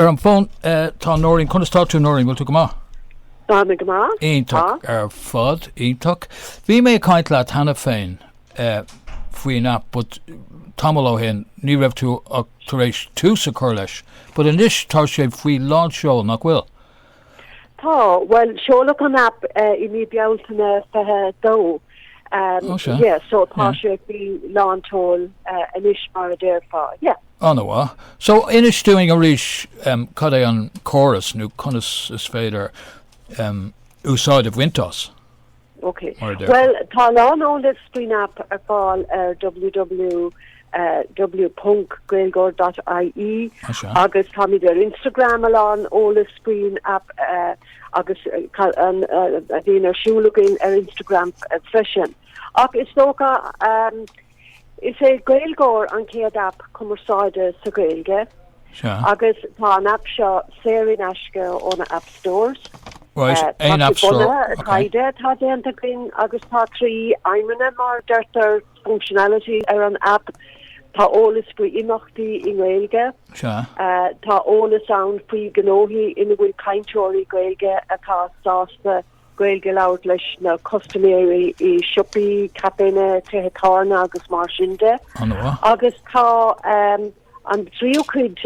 Ar an bhfón tá Nóirín. Conas atá tú Nóirín, bhfuil tú go maith? Tá mé go maith. Iontach ar fad, iontach. Bhí mé ag caint leat cheana féin eh, faoin app but tamall ó shin ní raibh tú ach tar éis tús a chur leis, but anois tá sé faoi lánseol nach bhfuil? Tá, bhuel, seoladh an aip i mí Bealtaine fiche dó. Tá sé? Yeah, so tá sé faoi lánseol anois mar a déarfá, yeah. An-mhaith. So, inis dúinn arís cad é an córas nó conas is féidir úsáid a bhaint as. Ok. Bhuel, tá a lán eolais faoin aip ar fáil ar www ponc gaeilgeoir ponc IE agus táimid ar Instagram a lán eolais faoin aip agus a bhíonn ar siúl againn ar Instagram freisin. Ach is dócha. Is é Gaeilgeoir an chéad aip cumarsáide sa Ghaeilge Sea. agus tá an aip seo saor in aisce ó na App Stores. Right, Tá aon sé App Store, bunaithe ar ok. taighde atá déanta againn agus tá trí aidhmeanna, mar a deirtear, functionality ar an aip, tá eolas faoi imeachtaí i nGaeilge, Sea. tá eolas ann faoi ghnóthaí ina bhfuil cainteoirí Gaeilge atá sásta Gaeilge a labhairt leis na custaiméirí i siopaí, caiféanna, tithe tábhairne agus mar sin de. An-mhaith. Agus tá an tríú cuid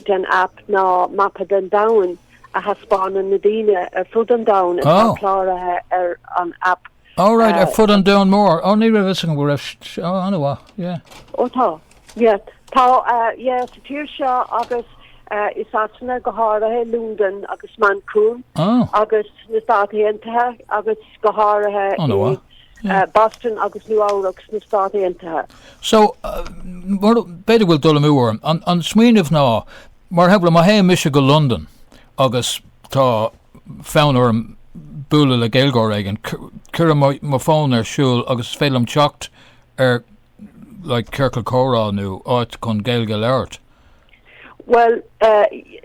den aip ná mapa den domhan a thaispeánann na daoine ar fud an domhain atá cláraithe ar an aip. Alright, ar fud an domhain mhóir. Ó, ní raibh fhios agam go raibh, ó, an-mhaith, yeah. Ó tá, Yes. Tá, yeah, sa tír seo agus i Sasana go háirithe, Lúndain agus Manchain agus sna Stáit Aontaithe agus go háirithe i Boston agus Nua-Eabhrac sna Stáit Aontaithe. So, b'fhéidir go bhfuil dul amú orm. An smaoineamh ná, mar shampla, má théann mise go Londain agus tá fonn orm bualadh le Gaeilgeoir éigin, cuirim mo fón ar siúl agus is féidir liom teacht ar like ciorcal comhrá nó áit chun Gaeilge a labhairt? Bhuel,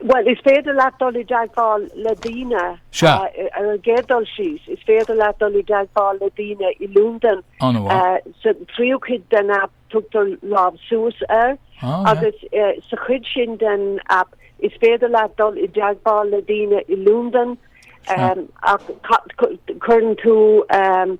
bhuel, is féidir leat dul i dteagmháil le daoine, Sea. ar an gcéad dul síos, is féidir leat dul i dteagmháil le daoine i Lúndain, An-mhaith. eh, sa tríú cuid den aip tugtar lámh suas air, Ah, yeah. agus eh, sa chuid sin den aip is féidir leat dul i dteagmháil le daoine i Lúndain, em, ach ca- cu- cuireann tú em,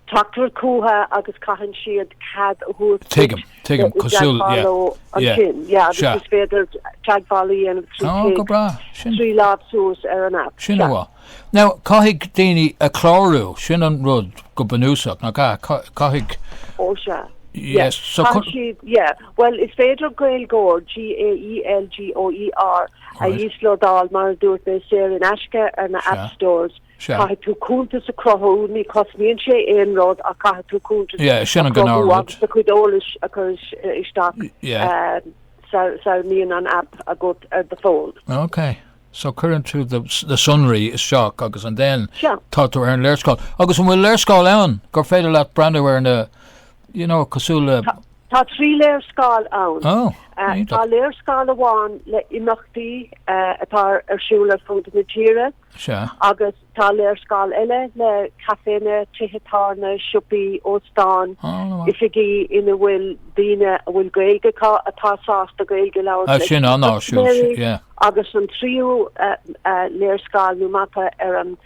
Tráchtaire cumtha agus caitheann siad cead a thabhairt duit teagmháil ansin. Yeah, yeah. Is féidir teagmháil a dhéanamh trí téacs, trí lámh suas ar an aip. Sin a bhfuil. Now, caithfidh daoine a chlárú, sin an rud go bunúsach, nach ea? Caithfidh. Ó sea. Yes. Caithfidh siad, yeah. Bhuel, is féidir Gaeilgeoir, G-a-e-l-g-o-e-r, a íoslódáil, mar a dúirt mé, saor in aisce ar na app stores. Sea. Caithfidh tú cuntas a cruthú, ní chosnaíonn sé aon rud ach caithfidh tú cuntas Yeah, sin an a cruthú gnáth-rud. agus do chuid eolais a chur isteach Yeah. sara mbíonn an aip agat ar do fón. Ok. So cuireann tú do, na sonraí isteach agus and then Sea. tá tú ar an léarscáil. Agus an bhfuil léarscáil ann gur féidir leat breathnú ar na you know, cosúil le Tá trí léarscáil ann. Oh, Uh, iontach. tá léarscáil amháin le imeachtaí uh, atá ar siúl ar fud na tíre. Sea. Agus tá léarscáil eile le caiféanna, tithe tábhairne, siopaí, óstáin, oifigí ina bhfuil daoine a bhfuil Gaeilge acu atá sásta Gaeilge a labhairt leis na custaiméirí. Agus an tríú léarscáil nó mapa ar an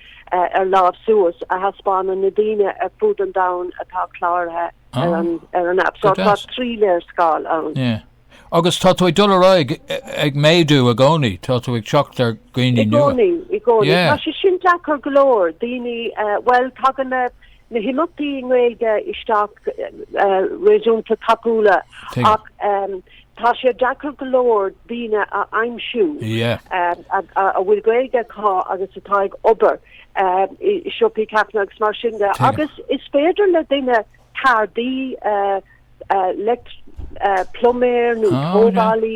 lámh suas a thaispeánann na daoine ar fud an domhain atá cláraithe ar an aip. Tá trí léarscáil ann. Agus tá tú ag dul ar aghaidh ag méadú i gcónaí, tá tú ag teacht ar dhaoine nua. I gcónaí, i gcónaí. Tá sé sin deacair go leor. Daoine, bhuel, tagann na, na himeachtaí i nGaeilge isteach réasúnta tapúil ach tá sé deacair go leor daoine a aimsiú a bhfuil Gaeilge acu agus atá ag obair i siopaí, caiféanna agus mar sin de. Agus is féidir le daoine, ceardaí, leictreoir, pluiméir nó tógálaí,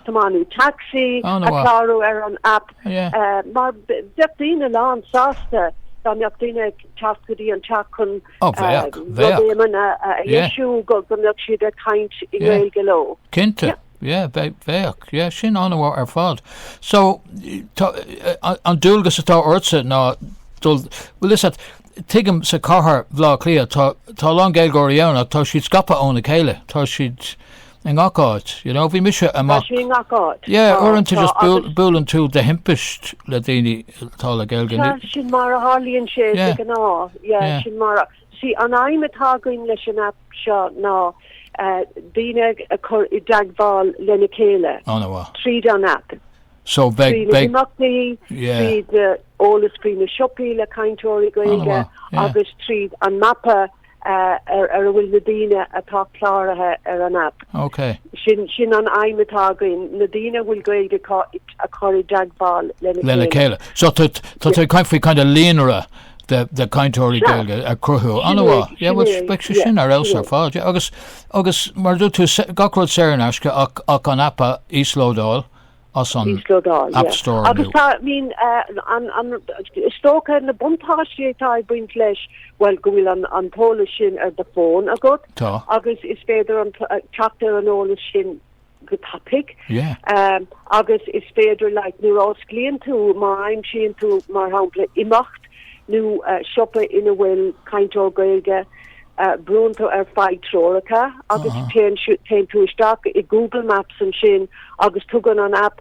tiománaí tacsaí a chlárú ar an aip mar bheadh daoine lán sásta dá mbeadh daoine ag teacht go dtí an teach chun rud éigin a dheisiú go mbeadh siad ag caint i nGaeilge leo. Cinnte. Yeah, bheadh. Yeah, sin an-mhaith ar fad. So, tá an dualgas atá ortsa ná dul, like tuigim sa chathair Bhleá Cliath tá a lán Gaeilgeoirí ann ach tá siad scaipthe óna chéile, tá siad i ngach áit, you know, bhí mise amach. Tá siad i ngach áit. Yeah, uaireanta just buaileann tú de thimpist le daoine atá le Gaeilge. Tá sin mar a tharlaíonn sé de ghnáth, yeah, sin mar a. 'Sí an aidhm atá againn leis an aip seo ná daoine a chur i dteagmháil lena chéile tríd an aip, trí na himeachtaí, tríd eolas faoi na siopaí le cainteoirí Gaeilge agus tríd an mapa ar a bhfuil na daoine atá cláraithe ar an aip. Sin an aidhm atá againn, na daoine a bhfuil Gaeilge acu a chur i dteagmháil lena chéile. So tá tú ag caint faoi kind of líonra. de chainteoirí Gaeilge a chruthú. An-mhaith. Yeah, bhuel, beidh sé sin ar fheabhas ar fad, yeah. Agus, agus, mar a dúirt tú, gach rud saor in aisce ach, ach an aip a íoslódáil as an App Store inniu. Agus tá, I mean, an, an, is dócha na buntáistí atá ag baint leis, bhuel, go bhfuil an, an t-eolas sin ar do phone agat. Tá. Agus is féidir an, teacht ar an eolas sin, go tapaidh agus is féidir like nuair a osclaíonn tú má aimsíonn tú mar shampla imeacht nó siopa ina bhfuil cainteoir Gaeilge brúnn tú ar faigh treoracha agus téann téann tú isteach i Google Maps ansin agus tugann an aip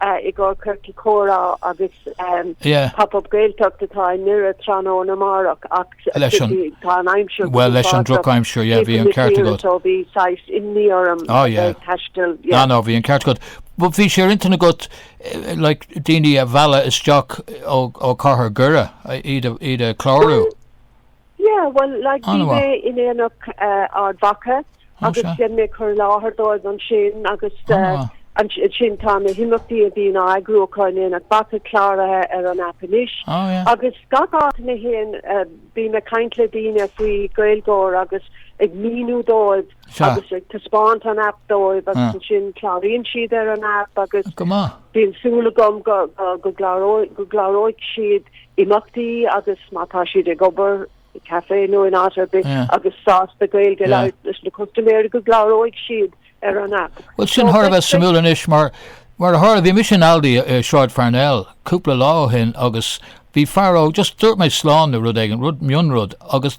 i gcomhair Chorcaí Comhrá agus Pop Up Gaeltacht atá i nDoire tráthnóna amárach ach leis an drochaimsir bhí saghas imní orm a bheith ag taisteal. Ná ná bhí an ceart agat. But bhí sé ar intinn agat like daoine a mhealladh isteach ó ó cathair Dhoire iad a iad a clárú. Yeah, bhuel, like, bhí mé in Aonach Mhacha agus rinne mé cur i láthair dóibh ansin agus ansin tá na himeachtaí a bhíonn á n-eagrú acu in Aonach Mhacha cláraithe ar an aip anois agus gach áit a mbím féin bím ag caint le daoine faoi GaelGoer agus ag míniú dóibh Sea. Agus ag taispeáint an aip dóibh agus ansin cláraíonn siad ar an aip agus bíonn súil agam go go gcláróidh siad imeachtaí agus má tá siad ag obair i caife nó in áit ar bith agus sásta Gaeilge a labhairt leis na custaiméirí go gcláróidh siad ar an aip. Bhuel sin thar a bheith suimiúil anois mar mar a tharla bhí mise in Aldi i Sráid Pharnell cúpla lá ó shin agus bhí fear óg just dúirt mé slán nó rud éigin, rud mion rud agus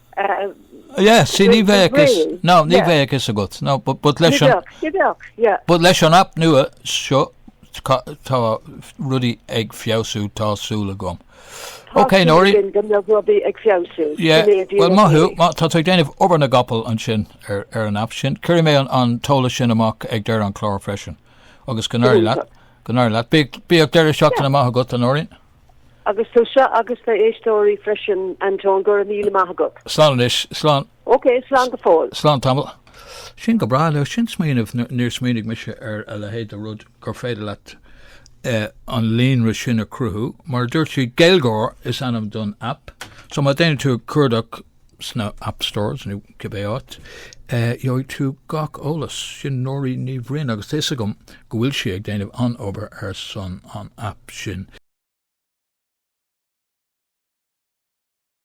Yes, sí, ní bheadh fhios, ná, ní bheadh fhios agat, ná, but, but leis an, ní bheadh, yeah, but leis an aip nua seo tá rudaí ag feabhsú, tá súil agam. Ok, Nóirín. Tá súil agam go mbeidh rudaí ag feabhsú. Yeah, well, maith thú, maith, tá tú ag déanamh obair na gcapall ansin ar, ar an aip sin. Cuirfidh mé an, an t-eolas sin amach ag deireadh an chláir freisin. Agus go n-éirí leat, go n-éirí leat. Bíodh, bíodh deireadh seachtaine maith agat, a Nóirín. Agus tusa agus na éisteoirí freisin Anton, go raibh míle maith agat. Slán anois, slán. Ok, slán go fóill. Slán tamall. Sin go breá le sin smaoineamh, níor smaoinigh mise ar a leithéid de rud gur féidir leat an líonra sin a cruthú. Mar a dúirt sí, GaelGoer is ainm don aip, so má déanann tú cuardach, sna App Stores nó cibé áit, gheobhaidh tú gach eolas. Sin Nóirín Ní Bhraoin agus tá 'fhios agam go bhfuil sí ag déanamh an-obair ar son an aip sin.